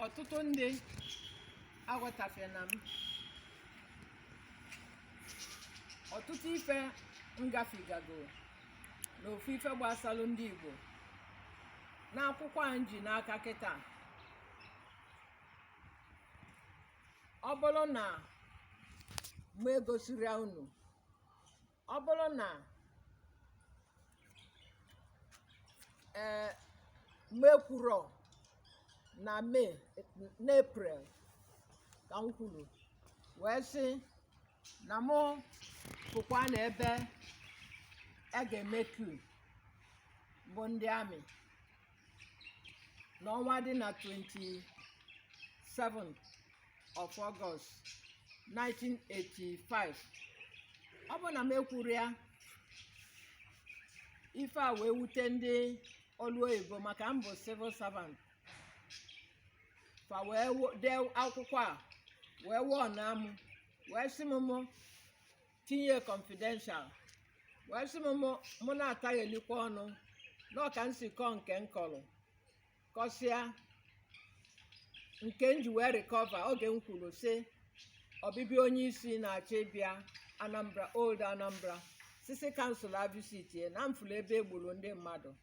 ọtụtụ ndị aghọtafena m ọtụtụ ife ngafigago na ofu ife gbasalụ ndị Igbo n'akwụkwọ a m ji n'aka kịtaa ọ bụrụ na m egosiri unu ọ bụrụ na ee m ekwurọ na May na April ka m kwuru wee sị na mụ pụkwa na ebe a ga-eme coup bụ ndị army n'ọnwa dị na 27th of August 1985 ọ bụ na m ekwuru ya ife a wee wute ndị ọlụ oyibo maka m bụ civil servant fa wee wo- dee akwụkwọ a wee warnụọ m wee sị m mụ tinye confidential wee sị m mụ- mụ na-ataghelikwa ọnụ na ọ ka m si kọọ nke m kọrọ kọsịa nke m ji wee recover oge m kwuru sị ọbịbịa onye isi na-achọ ịbịa Anambra old Anambra sị si cancela visit ya na m fụlụ ebe e gburu ndị mmadụ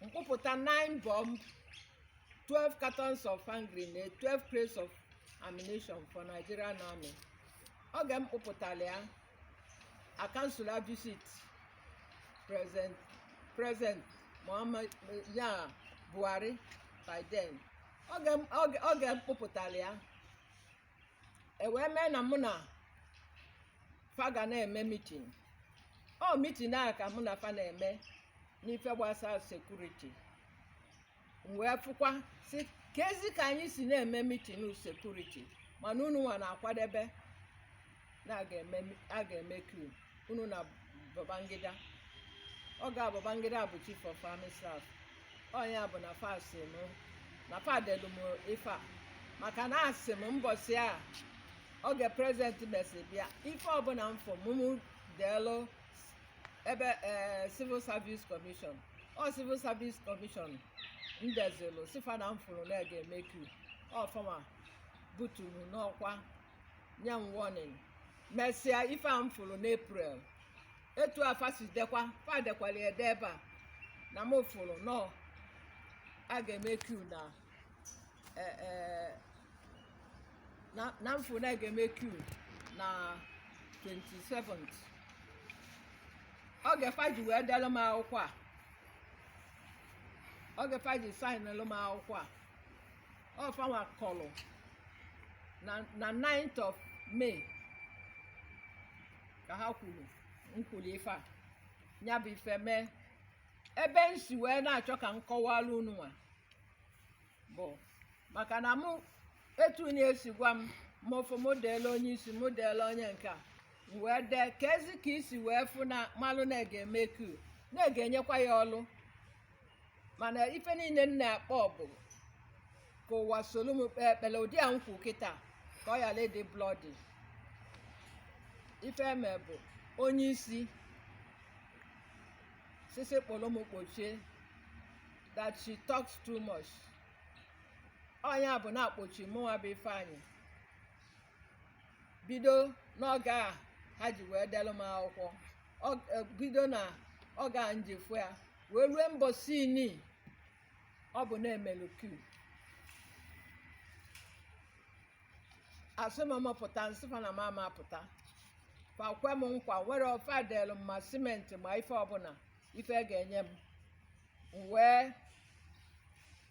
m kpụpụta 9 bomb 12 cartons of hand grenade 12 crates of ammunition for Nigerian army oge m kpụpụtara ya a cancela visit President President Muhammadu Buhari by then oge m- oge- oge m kpụpụtara ya e wee mee na mụ na fa ga na-eme meeting ọ meeting a ka mụ na fa na-eme n'ife gbasara security m wee fụkwa sị kezi ka anyị si na-eme meeting security mana unu nwa na-akwadebe na a ga-eme a ga-eme coup unu na Babangida oge Babangida bụ chief of army staff ọ nya bụ na fa si m na fa delu m ife a maka na asị m mbọsị a oge president mesịrị bịa ife ọbụla m fụ mụ mụ deelu ebe ee civil service commission ọ civil service commission m dezielu sị fa na m fụrụ na a ga-eme coup ọfụma buturu m n'ọkwa nye m warning mesịa ife a m fụrụ n'April etu a fa si dekwa fa dekwara ya ede ebe a na m fụrụ na a ga-eme coup na eh, eh, na na m fụ na a ga-eme coup na 27th oge fa ji wee delụ m akwụkwọ a oge fa ji sainelụ m akwụkwọ a ọ fanwa kọlụ na na 9th of May ka ha kwuru m kwulu ife a ya bụ ife mee ebe m si wee na-achọ ka m kọwara unu nwa bụ maka na mụ etu na e si gwa m mụ fụ mụ deelu onye isi mụ deelu onye nke a m wee dee keezi ka i si wee fụ na malụ na a ga-eme coup na a ga-enyekwa ya ọlụ mana ife niile m na-akpọ bụ ka ụwa solu m kpee ekpele ụdị a m kwu kịta ka ọ yala ịdị bloody ife e me bụ onye isi sị sị kpọlụ m kpọchie that she talks too much ọ nya bụ na a kpọchi mụnwa bụ Ifeanyị bido n'oge a ha ji wee delụ m akwụkwọ Ọ- eh, bido na oge a m ji fụ ya wee rue mbọsị nị ọ bụ na e melu coup a sị m pụta m sị fa na m ama apụta fa kwe m nkwa nwere ife delụ m ma simenti ma ife ọbụla ife ga-enye m m wee